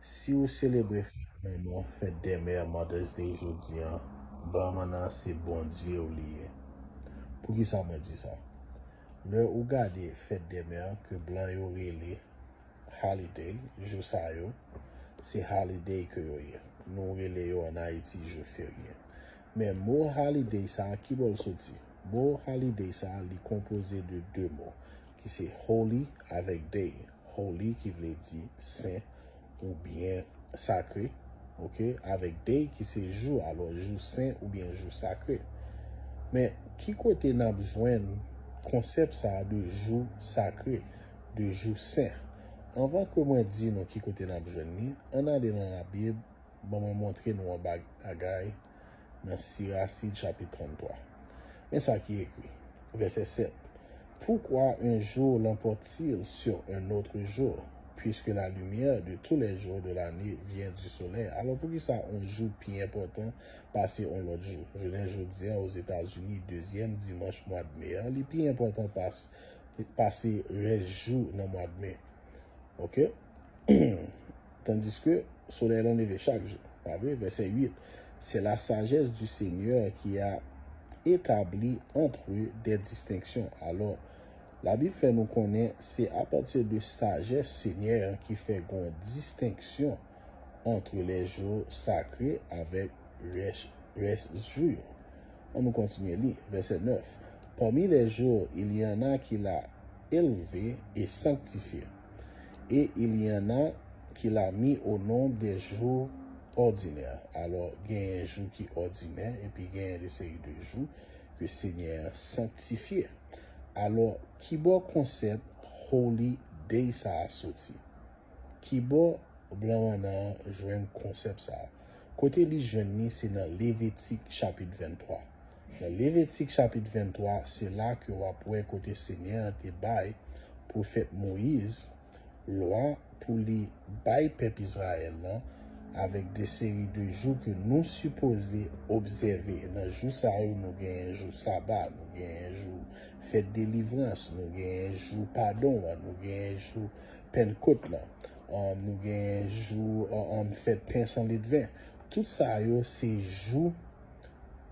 Si ou selebre fèt manman, fête des mères, Mother's Day, jodi an, ban manna an se Bondye ou li ye. Poukisa mwen di sa? Lè ou gade fête des mères ke blan yo rele holiday, jou sa yo, se holiday ke yo ye. Nou rele yo an Ayiti jou ferye. Men mo holiday sa a ki bò l soti? Mo holiday sa a li konpoze de 2 mo ki se holy avèk day. holy ki vle di sen oubyen sakre ok avèk day ki se jou alò jou sen oubyen jou sakre men ki kote nap jwenn konsèp sa de jou sakre de jou sen anvan ke mwen di nou ki kote nap jwenn li ann ale nan labib ban mwen montre nou yon bagay. nan Sirasid chapit 33. Men sa ki ekri, vèsè 7, Pourquoi un jour l'emporte-t-il sur un autre jour, puisque la lumière de tous les jours de l'année vient du soleil? Alò, poukisa on jou pi enpòtan pase on lòt jou? Jounen jodi an Ozetazini, dezyèm dimanch mwad me a, li pi enpòtan pase rès jou nan mwad me. Ok. Tandiske, solèy lan leve chak jou. Pa vre? Vèsè 8, Se la sajès di Senyè ki a etabli antre ou dè distenksyon. Alò, Labib fè nou konnen se apati de sajès Senyè an ki fè gon distenksyon antre lè jou sakre avèk rès jou yo. An nou kontinye li, vèsè 9, Pami lè jou, il y en a ki la elve e sanktifye. e il y en a ki la mi o nom dè jou òdinè, alò genyen jou ki òdinè epi genyen de seri de jou ke Senyè an sanktifye, alò kibò konsèp holy day sa a soti? Kibò blan mannan an jwenn konsèp sa a? Kote li jwenn li se nan Levitik chapit 23. Nan Levitik chapit 23 se la ke w ap wè kote Senyè a te bay pwofèt Moyiz lwa pou li bay pèp Izrayèl lan avèk de seri de jou ke nou sipoze obsève. Nan jou sa yo nou genyen jou saba, nou genyen jou fèt delivrans, nou genyen jou padon an, nou genyen jou Pennkot la, nou gen jou fèt pen san ledven. Tout sa yo se jou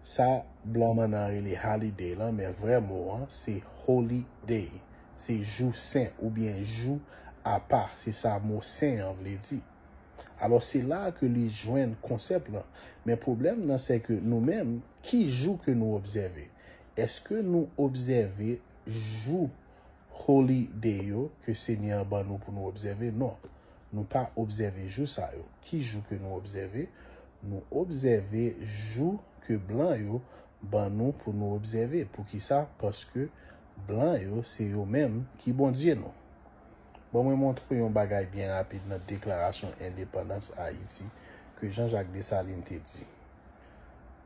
sa blan mannan rele holiday lan men vrè mo an se holy day. Se jou sen oubyen jou apa, se sa mo sen an vle di. Alò se la a ke li jwenn konsèp lan. Men pwoblèm nan se ke nou menm, ki jou ke nou obsève? Eske nou obsève jou. Holy Day yo ke Senyè a ban nou pou nou obsève? Non, nou pa obsève jou sa yo. Ki jou ke nou obsève? Nou obsève jou ke blan yo ban nou pou nou obsève. Poukisa? Paske blan yo se yo menm ki Bondye nou. Ban mwen montre w yon bagay byen rapid nan Deklarasyon Endepandans Ayiti ke Jean-Jacques Dessalines te di.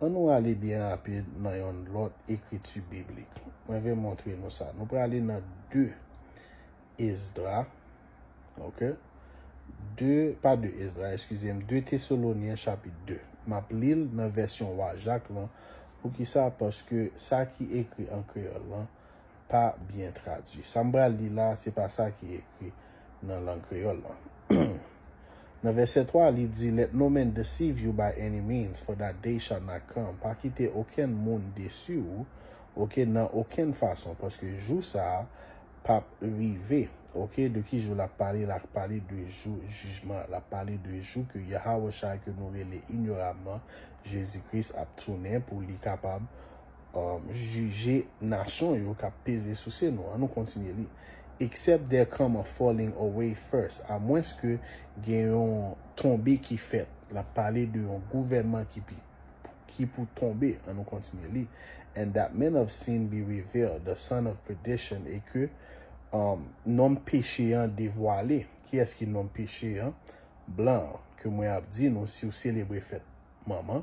An nou ale byen rapid nan yon lòt ekriti biblik. Mwen vle montre nou sa. Nou prale nan 2 Esdra, ok, 2, pa 2 Esdra, eskize m, 2 Tesalonyen chapit 2. M ap li l nan vèsyon Wa Jak lan. Poukisa? Paske sa ki ekri an kreyòl lan pa byen tradui. Sa m pral li la a, se pa sa ki ekri nan lang kreyòl lan. Nan vèsè 3 a, li di, Let no man deceive you by any means, for that day shall not come, Pa kite okenn moun desi ou, oke, nan okenn fason, paske jou sa a p ap rive. Oke, de ki jou l ap pale? L ap pale de jou jijman an. L ap pale de jou ke Yahawashai, ke nou rele inyorabman Jezi Kris, ap tounen pou li kapab jije nasyon yo k ap peze souse nou. Annou kontinye li. Except there come a falling away first, amwenske gen yon tonbe ki fèt. L ap pale de yon gouvènman ki pi ki pou tonbe. Annou kontinye li. And that man of sin be revealed, the son of perdition, e ke nonm peche an devwale. Kiyès ki nonm peche an? Blan an. Ke mwen ap di nou, si w selebre fèt manman.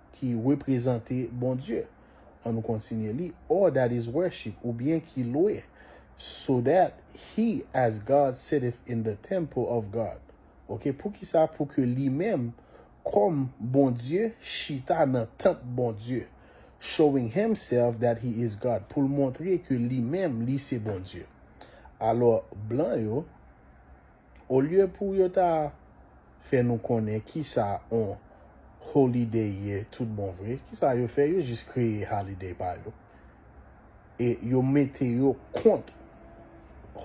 ki reprezante Bondye. An nou kontinye li, or that is worship, oubyen ki lwe, so that he, as God, sitteth in the temple of God. Ok, poukisa? Pou ke li menm, kòm Bondye, chita nan tanp Bondye. Showing himself that he is God, pou l montre ke li menm li se Bondye. Alò, blan yo. Olye pou yo ta fè nou konnen kisa on Holiday ye tout bon vre, kisa yo fè, yo jis kreye Holiday pa yo. E yo mete yo kont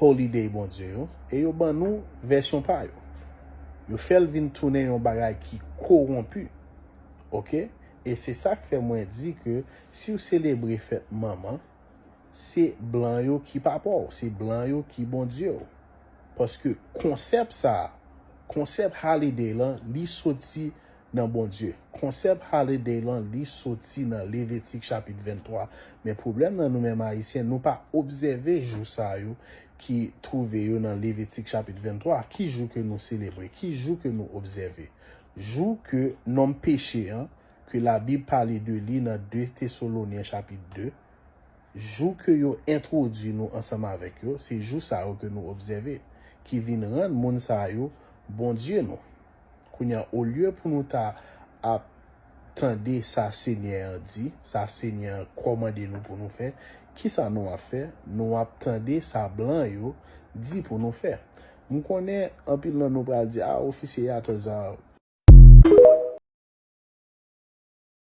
Holiday Bondye yo, e yo ban nou vèsyon pa yo. Yo fè l vin tounen yon bagay ki kowonpi. Oke? E se sa k fè mwen di ke si w selebre fèt manman, se blan yo ki papa w, se blan yo ki Bondye w. Paske konsèp sa a, konsèp Halliday lan, li soti nan Bondye. Konsèp Halliday lan, li soti nan Levitik chapit 23. Men pwoblèm nan nou menm Ayisyen, nou pa obsève jou sa yo ki twouve yo nan Levitik chapit 23. Ki jou ke nou selebre? Ki jou ke nou obsève? Jou ke nonm peche an, ke Labib pale de li nan 2 Tesolonyen chapit 2, Jou ke yo entwodui nou ansanm avèk yo, se jou sa yo ke nou obsève, ki vin rann moun sa yo Bondye nou. Kounye a, olye pou nou ta ap tande sa Senyè an di, sa Senyè an kòmande nou pou nou fè, kisa nou ap fè? Nou ap tande sa blan yo di pou nou fè. M konnen anpil nan nou pral di, A, ofisye Yatazar!